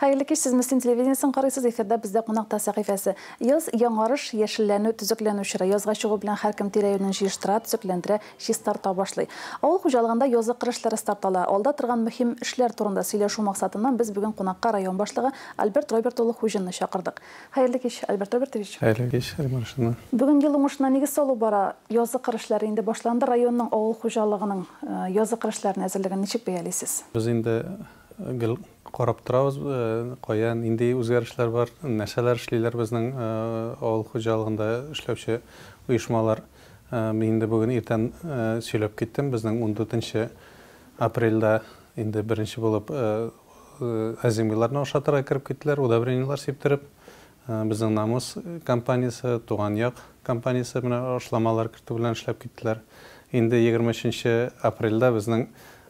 Хәерле кич, сез Мөслим телевидениесен карыйсыз, эфирда бездә кунакта сәхифәсе. Яз яңарыш, яшелләнү, төзекләнү чоры. Язга чыгу белән һәркем тирә-юнен җыештыра, төзекләндерә, чистарта башлый. Авыл хуҗалыгында язлы кыр эшләре старт ала. Алда торган мөһим эшләр турында сөйләшү максатыннан без бүген кунакка район башлыгы Альберт Роберт улы Хуҗинны чакырдык. Хәерле кич, Альберт Робертович! Хәерле кич, Римма Ришатовна! Бүген ел уңышына нигез салу бара, язгы кыр эшләре инде башланды, районның авыл хуҗалыгының язгы кыр эшләренә әзерлеген ничек бәялисез? Без инде гел карап торабыз, кая, нинди үзгәрешләр бар, нәрсәләр эшлиләр безнең авыл хуҗалыгында эшләүче оешмалар. Мин инде бүген иртән сөйләп киттем, безнең ундүртенче апрельдә инде беренче булып Әзимгылларны ашатырга кереп киттеләр, удобрениелар сиптереп. Безнең Намус компаниясе, Туган як компаниясе менә ашламалар кертү белән эшләп киттеләр. Инде 23 апрельдә безнең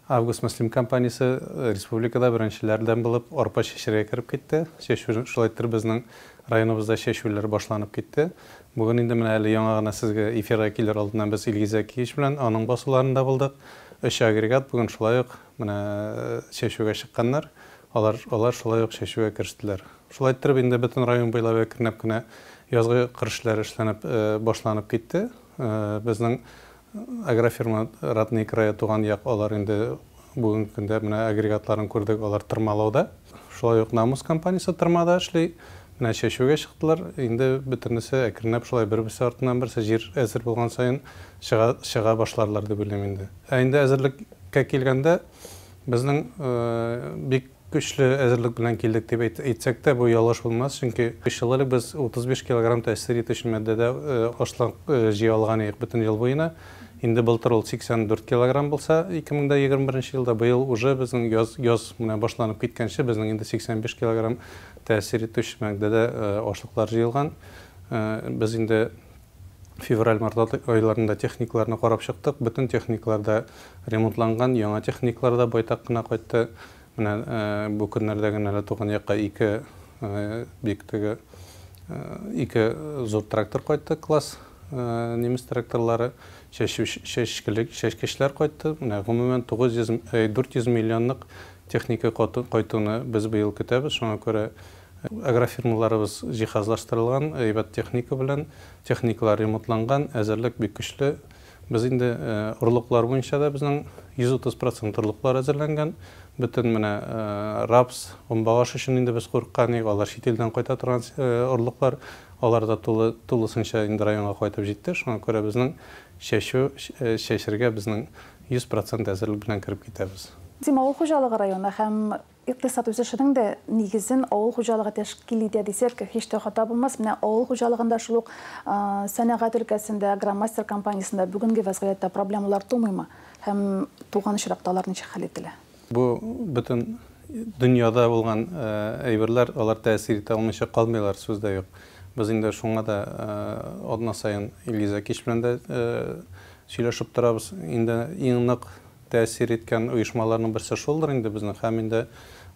Август Мөслим компаниясе республикада беренчеләрдән булып арпа чәчәргә кереп китте. Чәчү шулай иттереп безнең районыбызда чәчүләр башланып китте. Бүген инде менә әле яңа гына сезгә эфирга килер алдыннан без Илгиз Зәкиевич белән аның басуларында булдык. Өч агрегат бүген шулай ук Менә чәчүгә чыкканнар. Алар, алар шулай ук чәчүгә керештеләр. Шулай иттереп, инде бөтен район буйлап әкренләп кенә язгы кыр эшләре эшләнеп, башланып китте. Безнең агрофирма Родные края, Туган як, алар инде бүгенге көндә менә агрегатларын күрдек, алар тырмалауда. Шулай ук Намус компаниясе тырмада эшли. Менә чәчүгә чыктылар, инде бөтенесе әкренләп шулай бер-берсе артыннан берсе җир әзер булган саен чыга чыга башларлар дип уйлыйм инде. Ә инде әзерлеккә килгәндә, безнең бик көчле әзерлек белән килдек дип әйтсәк тә, бу ялгыш булмас, чөнки өч ел элек без 35 килограмм тәэсир итүче матдәдә ашлык җыя алган идек бөтен ел буена. Инде былтыр ул 84 килограмм булса, 2021 елда, быел уже безнең яз яз менә башланып киткәнче безнең инде 85 килограмм Тәэсир итүче маддәдә ашлыклар җыелган. Без инде февраль-март айларында техникаларны карап чыктык. Бөтен техникалар да ремонтланган, яңа техникалар да байтак кына кайтты. Менә бу көннәрдә генә әле туган якка ике бик теге ике зур трактор кайтты, класс немец тракторлары, чәчкечләр кайтты. Менә гомумән 900, 400 миллионлык Техника кайтуны без быел көтәбез, шуңа күрә агрофирмаларыбыз җиһазлаштырылган, әйбәт техника белән, техникалар ремонтланган, әзерлек бик көчле. Без инде орлыклар буенча да безнең 130 процент орлыклар әзерләнгән. Бөтен менә рапс, гөмбәгаш өчен инде без курыккан идек, алар чит илдән кайта торган орлыклар, алар да тулы, тулысынча инде районга кайтып җитте. Шуңа күрә безнең чәчү, чәчергә безнең Йөз процент әзерлек белән кереп китәбез. Дим авыл хуҗалыгы районы һәм икътисад үсешенең дә нигезен авыл хуҗалыгы тәшкил итә дисәк, һич тә хата булмас. Менә авыл хуҗалыгында шул ук сәнәгать өлкәсендә, Агромастер компаниясендә бүгенге вәзгыятьтә проблемалар тумыймы һәм туган очракта алар ничек хәл ителә? Бу бөтен дөньяда булган әйберләр, алар тәэсир итә алмыйча калмыйлар, сүз дә юк. Без инде шуңа да атна саен Илгиз Әкич белән дә сөйләшеп торабыз. Инде иң нык тәэсир иткән оешмаларның берсе шулдыр инде безнең һәм инде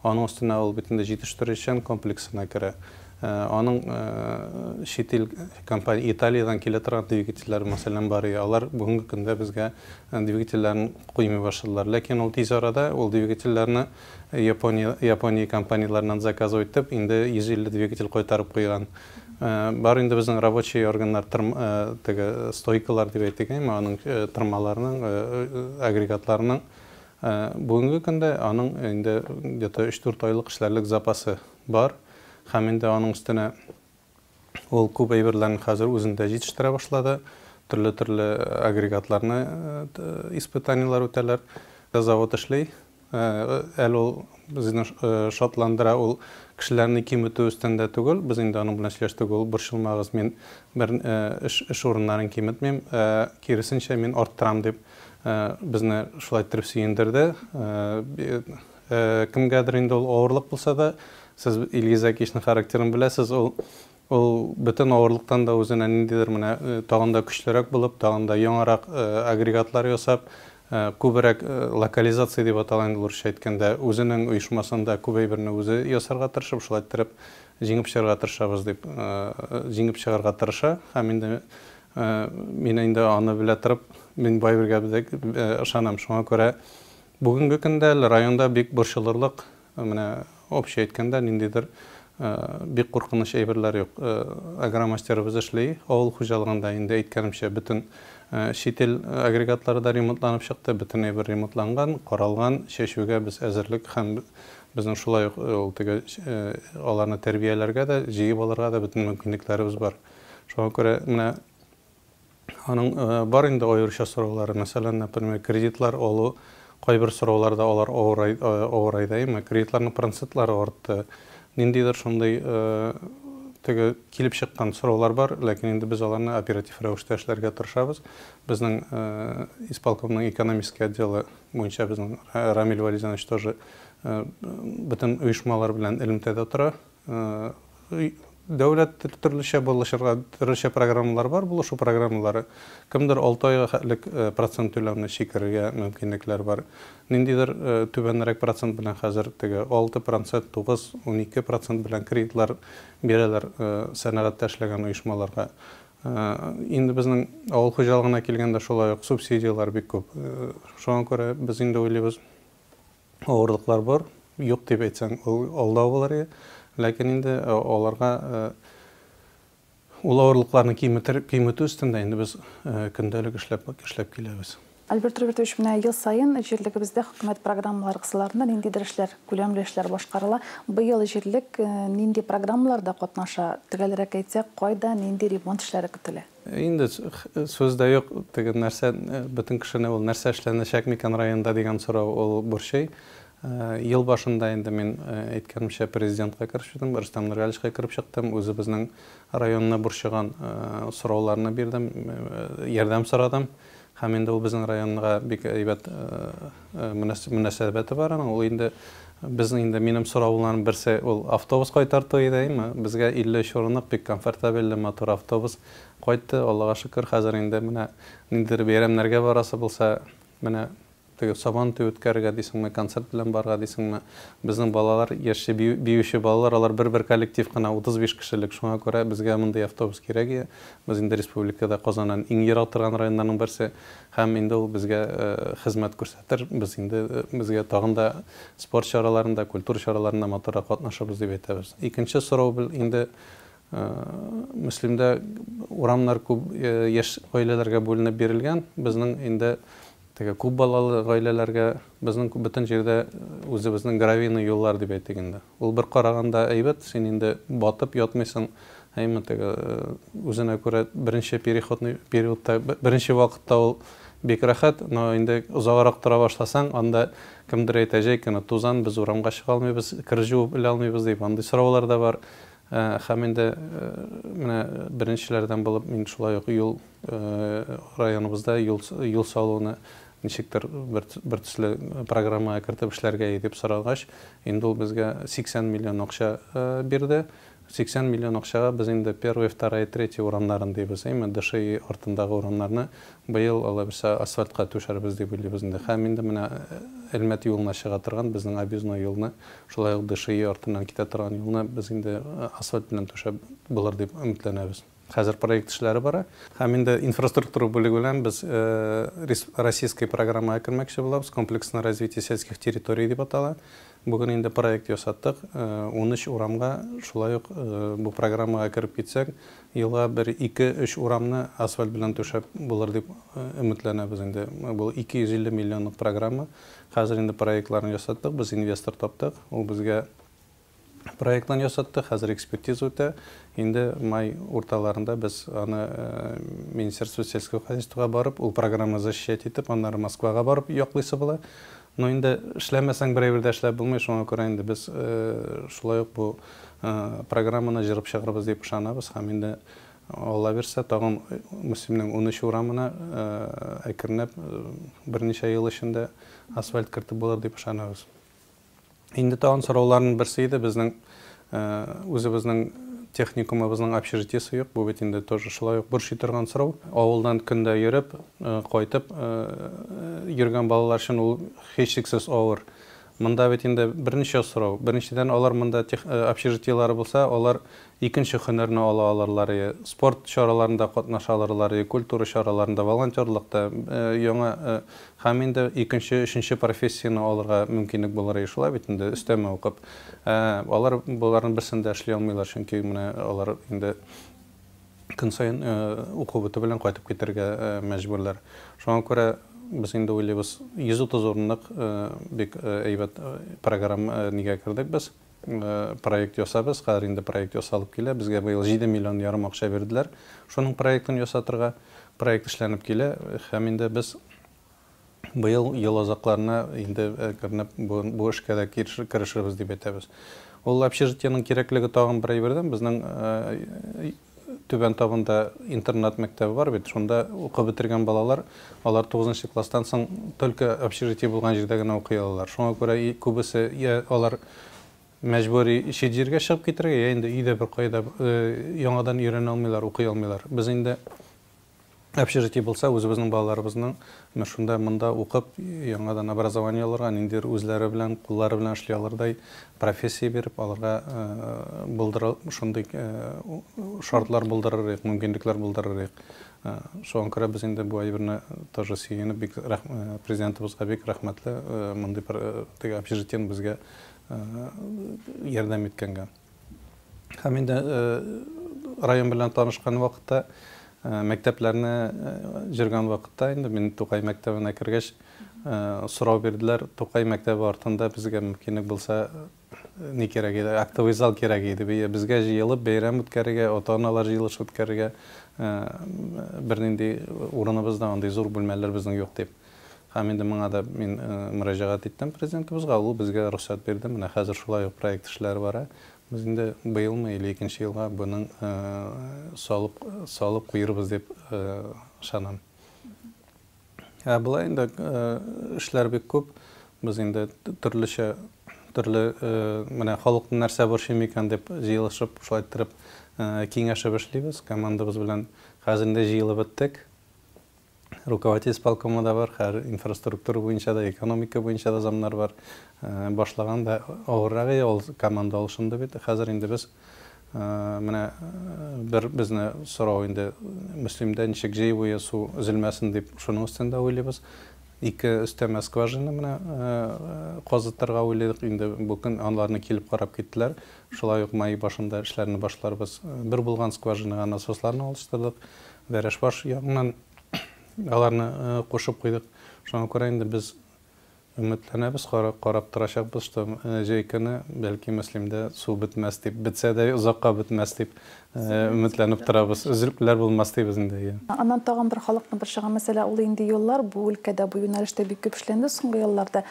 аның өстенә ул бит инде җитештерүчән комплексына керә. Аның чит ил компания Италиядән килә торган двигательләр мәсәлән бар иде. Алар бүгенге көндә безгә двигательләрен куймый башладылар. Ләкин ул тиз арада ул двигательләрне Япония Япония компанияләреннән заказывать итеп, инде 150 двигатель кайтарып куйган. Бар инде безнең рабочий органнар тырм теге стойкалар дип әйтик әйме, аның тырмаларының агрегатларының бүгенге көндә аның инде где то 3-4 айлык эшләрлек запасы бар һәм инде аның өстенә ул күп әйберләрне хәзер үзендә җитештерә башлады, төрле-төрле агрегатларны испытаниеләр үтәләр. Завод эшли, әле ул безне шатландыра, ул кешеләрне киметү өстендә түгел, без инде аның белән сөйләштек, ул борчылмагыз, мин бер эш урыннарын киметмим, ә киресенчә мин арттырам дип безне шулай иттереп сөендерде. Кемгәдер инде ул авырлык булса да, сез Илгиз Әкишнең характерын беләсез, ул ул бөтен авырлыктан да үзенә ниндидер менә тагын да көчлерәк булып, тагын да яңарак агрегатлар ясап, күбрәк локализация дип атала инде урысча әйткәндә, үзенең оешмасында күп әйберне үзе ясарга тырышып, шулай иттереп җиңеп чыгарга тырышабыз дип җиңеп чыгарга тырыша. Һәм инде мин инде аны белә торып, мин Байбергә ышанам. Шуңа күрә Бүгенге көндә әле районда бик борчылырлык, менә общий әйткәндә, ниндидер бик куркыныч әйберләр юк. Агромастерыбыз эшли, авыл хуҗалыгында инде әйткәнемчә, бөтен чит ил агрегатлары да ремонтланып чыкты, бөтен әйбер ремонтланган, каралган, чәчүгә без әзерлек һәм безнең шулай ук ул теге аларны тәрбияләргә дә, җыеп алырга да бөтен мөмкинлекләребез бар. Шуңа күрә менә Аның бар инде аеруча сораулары, мәсәлән, например, кредитлар алу, кайбер сорауларда алар авырайдаймы, кредитларның процентлары артты. Ниндидер шундый теге килеп чыккан сораулар бар, ләкин инде без аларны оператив рәвештә эшләргә тырышабыз. Безнең исполкомның экономический отделы буенча безнең Рамил Вәлизанович тоже бөтен оешмалар белән элемтәдә тора. Дәүләт төрлечә булышырга, төрлечә программалар бар, булышу программалары. Кемдер алты айга хәтлек процент түләүне сикерергә мөмкинлекләр бар. Ниндидер түбәнрәк процент белән хәзер теге алты процент, тугыз, унике процент белән кредитлар бирәләр сәнәгатьтә эшләгән оешмаларга. Инде безнең авыл хуҗалыгына килгәндә шулай ук субсидияләр бик күп. Шуңа күрә без инде уйлыйбыз. авырлыклар бар. Юк дип әйтсәң, ул алдау булыр иде. Ләкин инде аларга ул авырлыкларны киметер, киметү өстендә инде без көндәлек эшләп, эшләп киләбез. Альберт Робертович, менә ел саен җирлегебездә хөкүмәт программалары кысаларында ниндидер эшләр, күләмле эшләр башкарыла. Быел җирлек нинди программаларда катнаша? Төгәлрәк әйтсәк, кайда, нинди ремонт эшләре көтелә? Инде сүз дә юк, теге нәрсә, бөтен кешене ул нәрсә эшләнәчәк микән районда дигән сорау ул борчый. Ел башында инде мин әйткәнемчә президентка кереп чыктым, Рөстәм Нургаличка кереп чыктым, үзебезнең районны борчыган сорауларны бирдем, ярдәм сорадым. Һәм инде ул безнең районга бик әйбәт мөнәсәбәте бар аның. Ул инде безнең инде минем сорауларым берсе ул автобус кайтарту иде. Безгә 53 урынлык бик комфортабельле матур автобус кайтты, Аллага шөкер. Хәзер инде менә ниндидер бәйрәмнәргә барасы булса, менә Теге Сабан туе үткәрергә дисеңме, концерт белән барырга дисеңме, безнең балалар, яшьче бию, биюче балалар, алар бер-бер коллектив кына, 35 кешелек, шуңа күрә безгә мондый автобус кирәк иде. Без инде республикада Казаннан иң ерак торган районнарның берсе һәм инде ул безгә хезмәт күрсәтер, без инде безгә тагын да спорт чараларында, культура чараларында матуррак катнашырбыз дип әйтәбез. Икенче сорау бел инде Мөслимдә урамнар күп яшь гаиләләргә бүленеп бирелгән, безнең инде, Теге күп балалы гаиләләргә безнең бөтен җирдә үзебезнең гравийный юллар дип әйтик инде. Ул бер караганда әйбәт, син инде батып ятмыйсың, әйеме, теге үзенә күрә беренче переходный периодта, беренче вакытта ул бик рәхәт, но инде озаграк тора башласаң, анда кемдер әйтә, җәй көне тузан, без урамга чыга алмыйбыз, кер җуып элә алмыйбыз дип, андый сораулар да бар. Һәм инде менә беренчеләрдән булып мин шулай ук юл Районыбызда юл салуны ничектер бертөсле программага кертеп эшләргә дип сорагач, инде ул безгә 80 миллион акча бирде. 80 миллион акчага без инде первая, вторая, третья урамнарын дибез, әйме, ДШИ артындагы урамнарны быел алайса асфальтка түшәрбез дип уйлыйбыз инде. Һәм инде менә Әлмәт юлына чыга торган безнең объездной юлны, шулай ук ДШИ артыннан китә торган юлны без инде асфальт белән түшәп булыр дип өметләнәбез. Хәзер проект эшләре бара. Һәм инде инфраструктура бүлеге белән без российская программага кермәкче булабыз. Комплексное развитие сельских территорий дип атала. Бүген инде проект ясаттык. Унөч урамга шулай ук бу программага кереп китсәк, елга бер ике, өч урамны асфальт белән түшәп булыр дип өметләнәбез инде. Бу 250 миллионлык программа. Хәзер инде проектларын ясаттык, без инвестор таптык. Ул безгә проектын ясатты, хәзер экспертиза үтә. Инде май урталарында без аны Министерство сельского хозяйствога барып, ул программаны защищать итеп, аннары Москвага барып яклыйсы була. Но инде эшләмәсәң берәр җирдә эшләп булмый, шуңа күрә инде без шулай ук бу программаны җырып чыгарбыз дип ышанабыз һәм инде Алла бирсә, тагын Мөслимнең унөч урамына әкренләп берничә ел эчендә асфальт кертеп булыр дип ышанабыз. Инде тагын сорауларның берсе иде, безнең үзебезнең техникумыбызның общежитиесе юк, бу бит инде тоже шулай ук борчый торган сорау. Авылдан көн дә йөреп, кайтып йөргән балалар өчен ул һичшиксез авыр. Монда бит инде берничә сорау. Беренчедән, алар монда общежитиеләре булса, алар икенче һөнәрне ала алырлар, спорт чараларында катнаша алырлар, культура чараларында, волонтерлыкта, яңа Һәм инде икенче, өченче профессияне алырга мөмкинлек булыр иде шулай бит инде, өстәмә укып. Ә алар боларның берсен дә эшли алмыйлар, чөнки менә алар инде көн саен уку бетү белән кайтып китәргә мәҗбүрләр. Шуңа күрә без инде уйлыйбыз, 130 урынлык бик әйбәт программа нигә кердек без. Проект ясабыз, хәзер инде проект ясалып килә. Безгә быел җиде миллион ярым акча бирделәр шуның проектын ясатырга. Проект эшләнеп килә һәм инде без быел ел азакларына инде кернеп бу эшкә дә керешербез дип әйтәбез. Ул общежитиенең кирәклеге тагын бер әйбердән, безнең Түбән Табында интернат мәктәбе бар бит, шунда укып бетергән балалар, алар тугызынчы класстан соң только общежитие булган җирдә генә укый алалар. Шуңа күрә күбесе йә алар мәҗбүри чит җиргә чыгып китәргә, йә инде өйдә беркая да яңадан өйрәнә алмыйлар, укый алмыйлар. Без инде общежитие булса, үзебезнең балаларыбызның менә шунда, монда укып, яңадан образование алырга, ниндидер үзләре белән, куллары белән эшли алырдай профессия биреп, аларга булдыру, шундый шартлар булдырыр идек, мөмкинлекләр булдырыр идек. Шуңа күрә без инде бу әйберне тоже сөенеп, бик президентыбызга бик рәхмәтле, мондый бер теге общежитиене безгә ярдәм иткәнгә. Һәм инде район белән танышкан вакытта, мәктәпләрне җөргән вакытта инде мин Тукай мәктәбенә кергәч, сорау бирделәр, Тукай мәктәбе артында безгә мөмкинлек булса, ни кирәк иде, актовый зал кирәк иде, безгә җыелып бәйрәм үткәрергә, ата-аналар җыелышы үткәрергә бернинди урыныбыз да, андый зур бүлмәләр безнең юк, дип. Һәм инде моңа да мин мөрәҗәгать иттем Президентыбызга, ул безгә рөхсәт бирде. Менә хәзер шулай ук проект эшләре бара. Без инде быелмы или икенче елга буның салып салып куербыз дип ышанам. Ә болай инде эшләр бик күп. Без инде төрлечә төрле менә халыкны нәрсә борчый микән дип җыелышып, шулай иттереп киңәшеп эшлибез. Командабыз белән хәзер инде җыелып беттек. Руководитель исполкомы да бар, хәер, инфраструктура буенча да, экономика буенча да замнар бар. Башлаган да авыррагы ул команда алышынды бит. Хәзер инде без менә бер безне сорау инде Мөслимдә ничек җыюы су өзелмәсен дип шуның өстендә уйлыйбыз. Ике өстәмә скважина менә казытырга уйлыйдык. Инде бу көн анларны килеп карап киттеләр. Шулай ук май башында эшләрне башларбыз. Бер булган скважинага насосларны алыштырдык. Бәрәшбаш ягыннан аларны кушып куйдык. Шуңа күрә инде без өметләнәбез, карап торачакбыз, что җәй көне, бәлки, Мөслимдә су бетмәс дип, бетсә дә озакка бетмәс дип өметләнеп торабыз. Өзелүләр булмас дибез инде, иә. Аннан тагын бер халыкны борчыган мәсьәлә, ул инде юллар. Бу өлкәдә бу юнәлештә бик күп эшләнде соңгы елларда.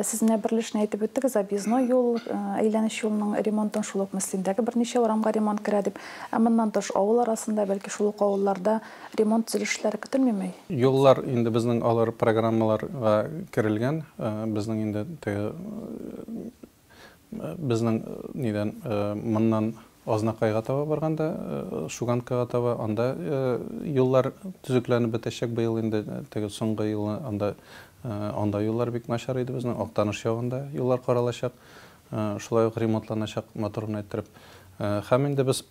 Сез менә берлешне әйтеп үттегез, объездной юл, әйләнеч юлның ремонтын, шул ук Мөслимдәге берничә урамга ремонт керә дип. Ә моннан тыш, авыл арасында, бәлки шул ук авылларда ремонт төзелеш эшләре көтелмиме? Юллар инде безнең алар программаларга керелгән. Безнең инде теге безнең нидән моннан Азнакайга таба барганда, Шуганкага таба, анда юллар төзекләнеп бетәчәк быел инде, теге соңгы елны анда анда юллар бик начар иде безнең, Актаныш ягында юллар каралачак. шулай ук ремонтланачак мотор гына иттереп. Һәм инде без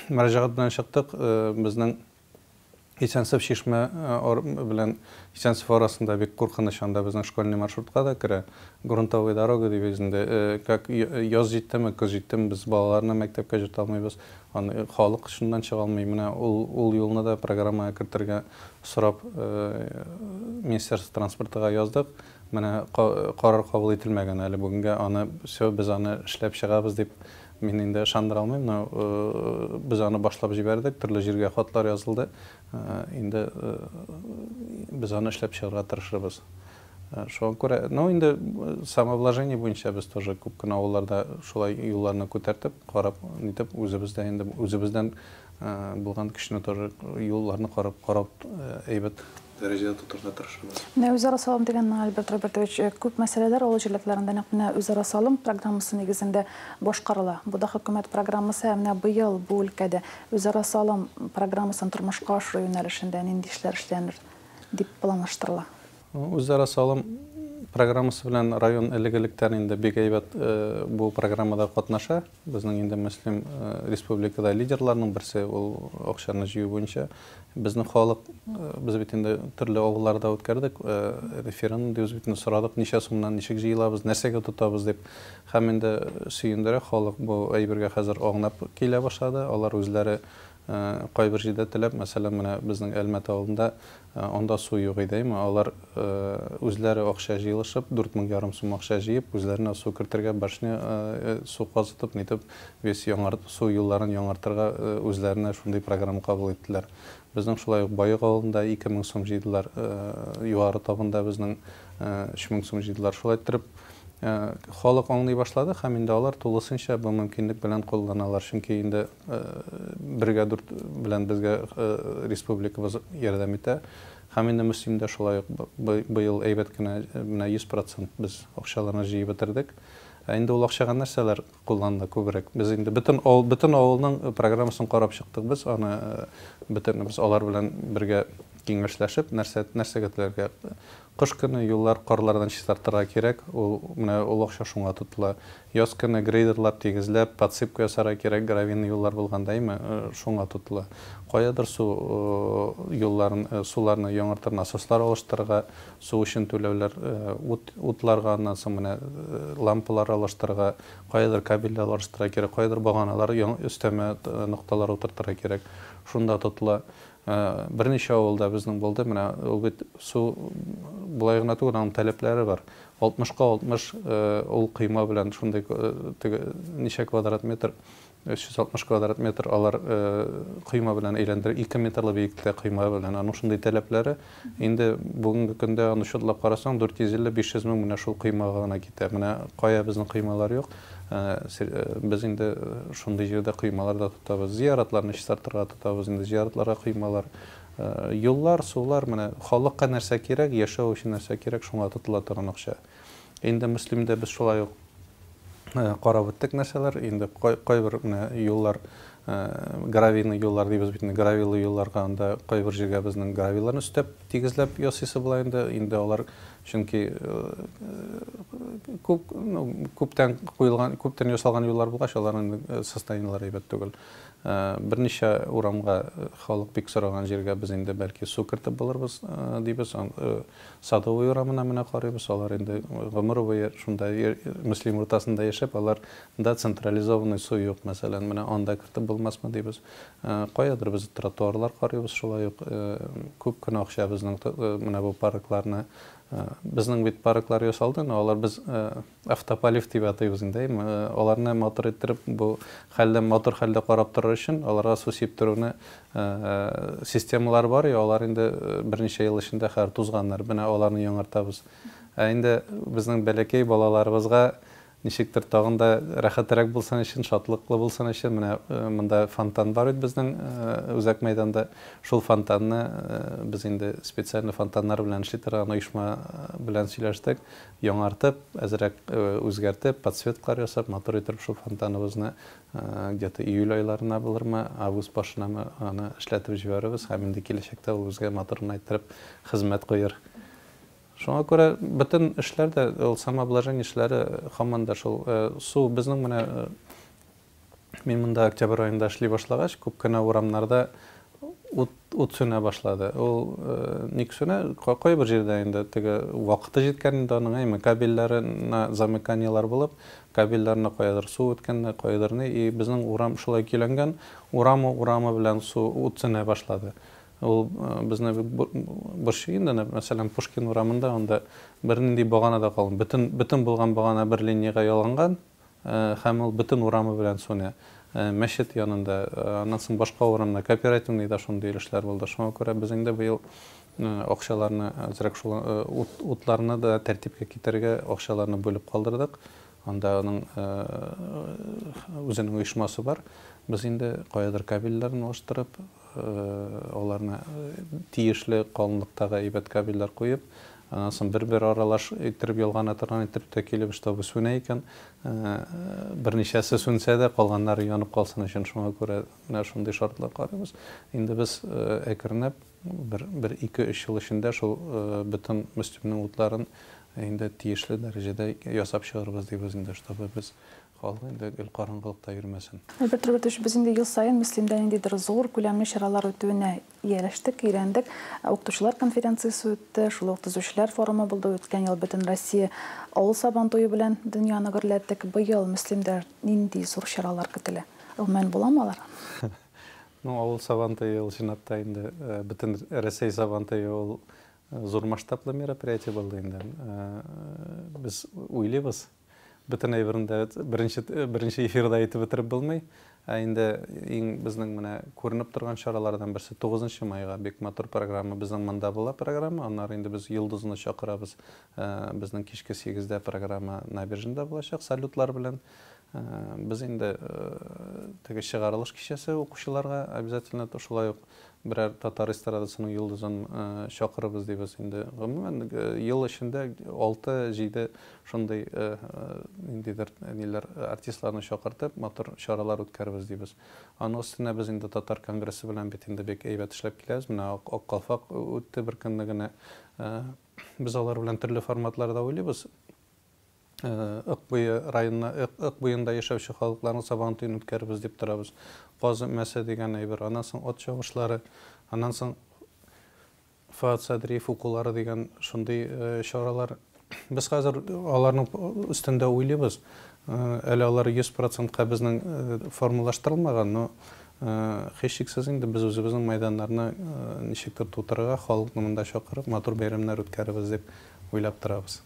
мөрәҗәгать белән чыктык, безнең Исәнсеб Чишмә белән Исәнсеб арасында бик куркыныч, анда безнең школьный маршрутка да керә, грунтовая дорога дибез инде, как яз җиттеме, көз җиттеме, без балаларны мәктәпкә җөртә алмыйбыз, аны халык чыннан чыга алмый, менә ул юлны да программага кертергә сорап Министерство транспортыга яздык. Менә карар кабул ителмәгән әле бүгенгә, аны все, без аны эшләп чыгабыз дип мин инде ышандыра алмыйм, но без аны башлап җибәрдек, төрле җиргә хатлар язылды, инде без аны эшләп чыгарга тырышырбыз. Шуңа күрә, ну инде самовложение буенча без тоже күп кенә авылларда шулай юлларны күтәртеп, карап, нитеп, үзебез дә инде үзебездән булган көчне тоже юлларны карап, карап әйбәт. дәрәҗәдә тотарга тырышабыз. Менә үзара салым дигәнне, Альберт Робертович, күп мәсьәләләр авыл җирләкләрендә нәкъ менә үзара салым программасы нигезендә башкарыла. Бу да хөкүмәт программасы. Ә менә быел бу өлкәдә үзара салым программасын тормышка ашыру юнәлешендә нинди эшләр эшләнер дип планлаштырыла? Үзара салым программасы белән район элек-электән инде бик әйбәт бу программада катнаша. Безнең инде Мөслим республикада лидерларның берсе ул акчаны җыю буенча. Безнең халык, без бит инде төрле авылларда үткәрдек, референдум дибез бит, сорадык, ничә сумнан ничек җыелабыз, нәрсәгә тотабыз дип. Һәм инде сөендерә, халык бу әйбергә хәзер аңлап килә башлады. Алар үзләре Кайбер җирдә теләп, мәсәлән, менә безнең Әлмәт авылында, анда су юк иде, әйме, алар үзләре акча җыелышып, дүрт мең ярым сум акча җыеп, үзләренә су кертергә башня, су казытып, нитеп, весь яңар, су юлларын яңартырга үзләренә шундый программа кабул иттеләр. Безнең шулай ук Баек авылында ике мең сум җыйдылар, Югары Табында безнең өч мең сум җыйдылар. Шулай иттереп, халык аңлый башлады һәм инде алар тулысынча бу мөмкинлек белән кулланалар, чөнки инде, Бергә дүрт белән безгә республикабыз ярдәм итә. Һәм инде Мөслим дә шулай ук быел әйбәт кенә менә 100 процент без акчаларны җыеп бетердек. Ә инде ул акчага нәрсәләр кулланды күбрәк? Без инде бөтен бөтен авылның программасын карап чыктык без, аны бөтенебез алар белән бергә киңәшләшеп, нәрсә нәрсәгә теләргә Кыш көне юллар карлардан чистартырга кирәк, ул менә ул акча шуңа тотыла. Яз көне грейдерлап, тигезләп, подсыпка ясарга кирәк, гравийный юллар булганда, әйме, шуңа тотыла. Каядыр су юлларын, суларны яңартыр насослар алыштырырга, су өчен түләүләр, ут, утларга, аннан соң менә лампалар алыштырырга, каядыр кабельләр алыштырырга кирәк, каядыр баганалар, яңа өстәмә нокталар утыртырга кирәк, шунда тотыла. Берничә авылда безнең булды, менә үгет су болай гына түгел, аның таләпләре бар. 60 ка 60 ул койма белән шундый теге ничә квадрат метр, 360 квадрат метр алар койма белән әйләндерә, 2 метрлы биектә койма белән, аның шундый таләпләре. Инде бүгенге көндә аны чутлап карасаң, 450-500 мең менә шул коймага гына китә. Менә кая безнең коймалар юк. Без инде шундый җирдә коймалар да тотабыз. Зияратларны чистартырга тотабыз инде. Зияратларга коймалар. Юллар, сулар, менә халыкка нәрсә кирәк, яшәү өчен нәрсә кирәк, шуңа тотыла торган акча. Инде Мөслимдә без шулай ук карап үттек нәрсәләр, инде кайбер менә юллар, гравийный юллар дибез бит инде, гравилы юлларга анда кайбер җиргә безнең гравиларны өстәп, тигезләп ясыйсы була инде, инде алар чөнки күп, ну, күптән куелган, күптән ясалган юллар булгач, аларның состояниеләре әйбәт түгел. Берничә урамга халык бик сораган җиргә без инде бәлки су кертеп булырбыз дибез, Садовый урамына менә карыйбыз, алар инде гомер буе шунда Мөслим уртасында яшәп, алар да централизованный су юк, мәсәлән, менә анда кертеп булмасмы дибез. Каядыр без тротуарлар карыйбыз, шулай ук күп кенә акча безнең менә бу паркларны, безнең бит парклар ясалды, но алар без Автополив дип атыйбыз инде, әйеме? Аларны матур иттереп, бу хәлдән матур хәлдә карап торыр өчен, аларга су сиптерүне системалар бар, и алар инде берничә ел эчендә хәзер тузганнар. Менә аларны яңартабыз. Ә инде безнең бәләкәй балаларыбызга ничектер тагын да рәхәтерәк булсын өчен, шатлыклы булсын өчен, менә монда фонтан бар бит безнең үзәк мәйданда. Шул фонтанны без инде специаль фонтаннар белән эшли торган оешма белән сөйләштек. Яңартып, әзрәк үзгәртеп, подсветкалар ясап, матур итеп шул фонтаныбызны где-то июль айларына булырмы, август башынамы аны эшләтеп җибәрербез һәм инде киләчәктә ул безгә матур гына иттереп хезмәт куер. Шуңа күрә бөтен эшләр дә, ул самообложение эшләре һаман да шул су, безнең менә Мин монда октябрь аенда эшли башлагач, күп кенә урамнарда ут, ут сүнә башлады. Ул э, ник сүнә? Кайбер җирдә инде теге вакыты җиткән инде аның, әйме, кабельләренә замыканиелар булып, кабельләренә каядыр су үткән, каядыр ни, и безнең урам шулай көйләнгән, урамы урамы белән су ут сүнә башлады. Ул э, безне борчый инде, мәсәлән, Пушкин урамында анда бернинди багана да калмый. Бөтен бөтен булган багана бер линиягә ялганган, Һәм ул бөтен урамы белән сүнә. Мәчет янында, аннан соң башка урамда, кооперативный да шундый өлешләр булды. Шуңа күрә без инде быел акчаларны әзрәк шул утларны да тәртипкә китерергә акчаларны бүлеп калдырдык. Анда аның үзенең оешмасы бар. Без инде каядыр кабельләрен алыштырып, Аларны тиешле калынлыктагы әйбәт кабельләр куеп, аннан соң бер-бер аралаш иттереп ялгана торган иттереп тә килеп чтобы сүнә икән. Берничәсе сүнсә дә, калганнары янып калсын өчен, шуңа күрә менә шундый шартлар карыйбыз. Инде без әкренләп бер, бер ике-өч ел эчендә шул бөтен Мөслимнең утларын инде тиешле дәрәҗәдә ясап чыгарбыз дибез инде, чтобы без Халык инде гел караңгылыкта йөрмәсен. Альберт Робертович, без инде ел саен Мөслимдә ниндидер зур күләмле чаралар үтүенә ияләштек, өйрәндек. Укытучылар конференциясе үтте, шул ук төзүчеләр форумы булды, үткән ел Бөтенроссия авыл Сабантуе белән дөньяны гөрләттек. Быел Мөслимдә нинди зур чаралар көтелә? Гомумән, буламы алар? Ну, авыл Сабантуе ул чынлап та инде Бөтенроссия Сабантуе ул зур масштаблы мероприятие булды инде. Без уйлыйбыз. Бөтен әйберне дә беренче, беренче эфирда әйтеп бетереп булмый. Ә инде иң безнең менә күренеп торган чаралардан берсе 9 майга бик матур программа безнең монда була программа. Аннары инде без Йолдызны чакырабыз. Э, безнең кичке 8дә программа Набережныйда булачак салютлар белән. Э, без инде э, теге чыгарылыш кичәсе укучыларга обязательно шулай ук Берәр татар эстрадасының йолдызын чакырырбыз дибез инде. Гомумән, ел эчендә алты-җиде шундый ниндидер ниләр, артистларны чакыртып, матур чаралар үткәрербез дибез. Аның өстенә без инде татар конгрессы белән бит инде бик әйбәт эшләп киләбез. Менә Ак калфак үтте беркөнне генә. Без алар белән төрле форматларда уйлыйбыз. Ык буе районына Ык, Ык буенда яшәүче халыкларның сабан туен үткәрербез дип торабыз. Каз өмәсе дигән әйбер, аннан соң ат чабышлары, аннан соң Фоат Садриев укулары дигән шундый чаралар. Без хәзер аларның өстендә уйлыйбыз. Әле алар 100 процентка безнең формалаштырылмаган, но һичшиксез инде без үзебезнең мәйданнарны ничектер тутырырга, халыкны монда чакырып, матур бәйрәмнәр үткәрербез дип уйлап торабыз.